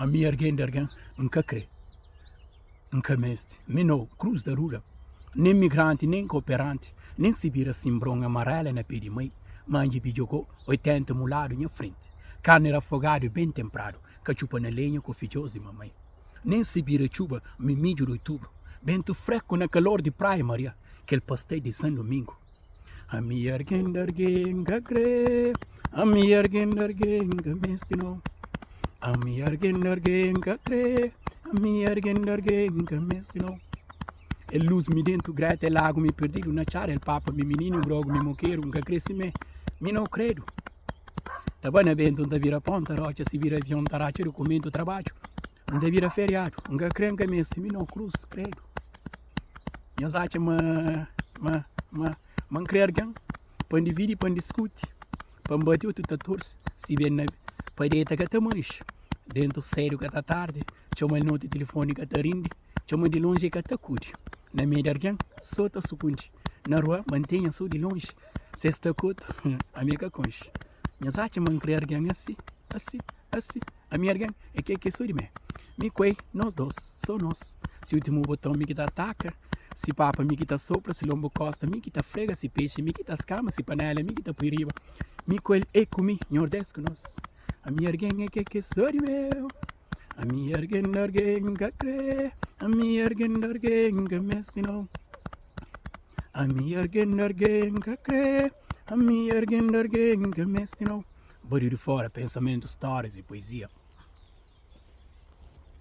Ami ergen di ergen N ka kre, N ka meste Mi no krus da ruda Nen migranti, nen koperanti Nen si bira sinbron Amarela na pe di mai Manji bi jogó oitenta muladu nha frenti Karni rafogadu ben tenpradu Ka txupa na lenha ku fidjos di mamai Nen si bira txuba Mi midju di otubru Bentu freku na kalor di Praia Maria Kel pastel di San Domingu. Ami argen dargen ga kre Ami argen dargen ga misti no Ami argen dargen ga kre Ami argen dargen ga misti no El luz mi dentu greta el agu mi perdidu na txada el papa mi mininu un grogu mi mokeru n ka kre si me mi no kredu ta ba na bentu n ta bira pó n ta rotxa si bira avion n ta ratxa dukumentu trabadju n ta bira feriadu n ka kre n ka misti mi no krus kredu. Nhos atxa ma N krê algen pa N dividi, pa N diskuti, pa N bati otu ta torse Si ben na pa deta ka ta manxe Dentu sédu ka ta tardi Txoma di noti tilifoni ka ta rindi Txoma di lonji e ka ta kudi Na mei di algen so ta sukundi Na rua mantenha so di lonji Si es ta kotu ami ka konxe Nhos atxa ma N krê algen asi, asi. Asi, ami argen é kel ki é so di mé Mi ku el, nos dos, so nos Si últimu boton, mi ki ta ataka Si papa, mi ki ta sopra Si lonbu kosta, mi ki ta frega Si pexi, mi ki ta skama Si panela, mi ki ta pui riba Mi ku el, el ku mi, nhos des ku nos Ami argen é kel ki é so di mé Ami argen, argen ka krê Ami argen, argen ka meste no Ami argen, argen ka krê Ami argen, argen ka meste no. Bódiu di fóra, pensamentus, stórias y puezia.